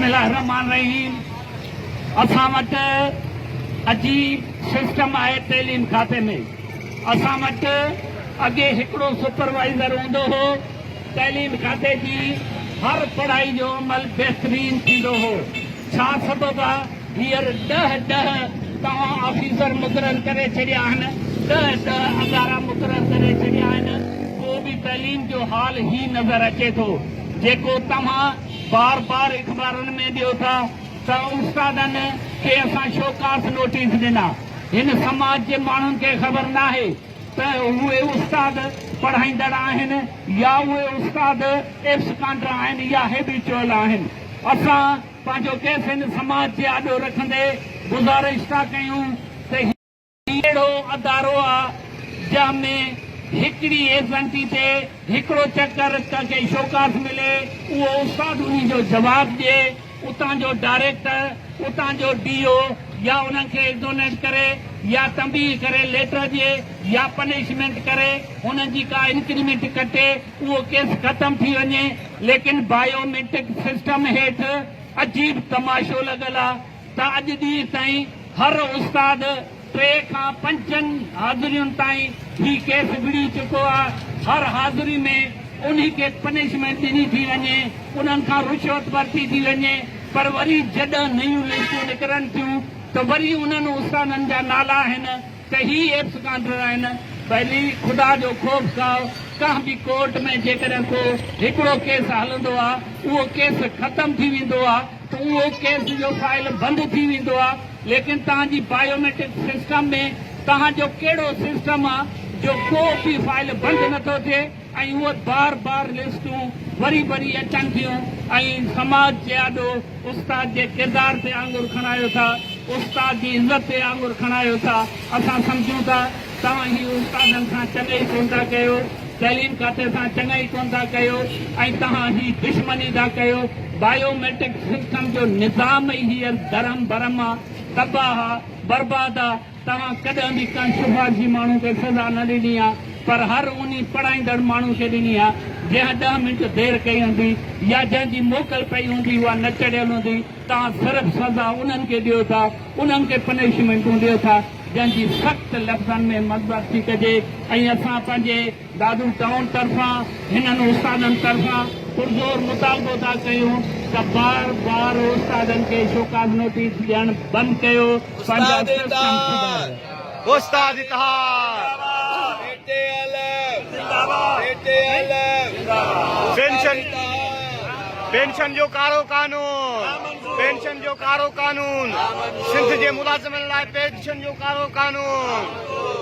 بسم الله الرحمٰن الرحيم اسان وٽ عجيب سسٽم آهي تعليم کاتي ۾ اسان وٽ اڳي هڪڙو سپروائيزر هوندو هو تعليم کاتي جي هر پڙهائي جو عمل بهترين ٿيندو هو ڇا سبب آ هيئر ڏهه ڏهه توهان آفيسر مقرر ڪري ڇڏيا آهن ڏهه ڏهه ادارا مقرر ڪري ڇڏيا آهن پوء به تعليم جو حال هي نظر اچي ٿو جيڪو توهان بار بار اخبارن ۾ ڏيو ٿا ته استادن کي اسان شوڪاس نوٽيس ڏنا. هن سماج جي ماڻهن کي خبر ناهي ته اهي استاد پڙهائيندڙ آهن يا اهي استاد ايبس ڪانڊرا آهن يا هيبيچوئل آهن. اسان پنهنجو ڪيس هن سماج جي آڏو رکندي گذارش ٿا ڪيون ته هي. هي اهڙو ادارو آ جنهن ۾ هڪڙي ايزنٽي تي هڪڙو چڪر ڪنهن کي شوڪاس ملي اهو استاد انهي جو جواب ڏي اتان جو ڊائريڪٽر اتان جو ڊي او يا انهن کي ايگنونيٽ ڪري يا تنبيهه ڪري ليٽر ڏي يا پنشمينٽ ڪري انهن جي ڪا انڪريمينٽ ڪٽي اهو ڪيس ختم ٿي وڃي ليڪن بايو ميٽرڪ سسٽم هيٺ عجيب تماشو لڳل آ. ته اڄ ڏينهن تائين هر استاد ٽي کان پنجن حاضرين تائين هي ڪيس وڙهي چڪو آ، هر حاضري ۾ انهي کي پنشمينٽ ڏني ٿي وڃي، انهن کان رشوت ورتي ٿي وڃي پر وري جڏهن نيون لسٽون نڪرن ٿيون ته وري انهن استادن جا نالا آهن ته هي ايبسڪانڊر آهن. ڀلي خدا جو خوف کائو، ڪنهن به ڪورٽ ۾ جيڪڏهن ڪو هڪڙو ڪيس هلندو آ اهو ڪيس ختم ٿي ويندو آ، اهو ڪيس جو فائل بند ٿي ويندو آ ليڪن توهان جي بائيوميٽرڪ سسٽم ۾ توهان جو ڪهڙو سسٽم آ جو ڪو به فائل بند نه ٿو ٿئي ۽ اهي بار بار لسٽون وري وري اچن ٿيون ۽ سماج جي آڏو استاد جي ڪردار تي آڱر کڻايو ٿا استاد جي عزت تي آڱر کڻايو ٿا اسان سمجهون ٿا توهان هي استادن سان چڱئي ڪونه ٿا ڪيو، تعليم کاتي سان چڱئي ڪونه ٿا ڪيو ۽ توهان هي دشمني ٿا ڪيو. بايو ميٽرڪ سسٽم جو نظام ئي هينئر درهم برهم آ، تباهه آ، برباد آ. توهان ڪڏهن به ڪنهن سفارشي ماڻهو کي سزا نه ڏني آ پر هر انهي پڙهائيندڙ ماڻهو کي ڏني آ جنهن ڏهه منٽ دير ڪئي هوندي يا جنهن جي موڪل پئي هوندي اها نه چڙهيل هوندي. توهان صرف سزا انهن کي ڏيو ٿا، انهن کي پنشمينٽون ڏيو ٿا. جنهن جي سخت لفظن ۾ مذمت ٿي ڪجي ۽ اسان پنهنجي دادو ٽائون طرفان هنن استادن طرفان پرزور مطالبو ٿا ڪيون ته بار بار استادن کي شوڪاز نوٽيس ڏيڻ بند ڪيو پنهنجا سسٽم سڌاريو. پينشن جو ڪارو قانون سنڌ جي ملازمن لاء پينشن جو ڪارو قانون.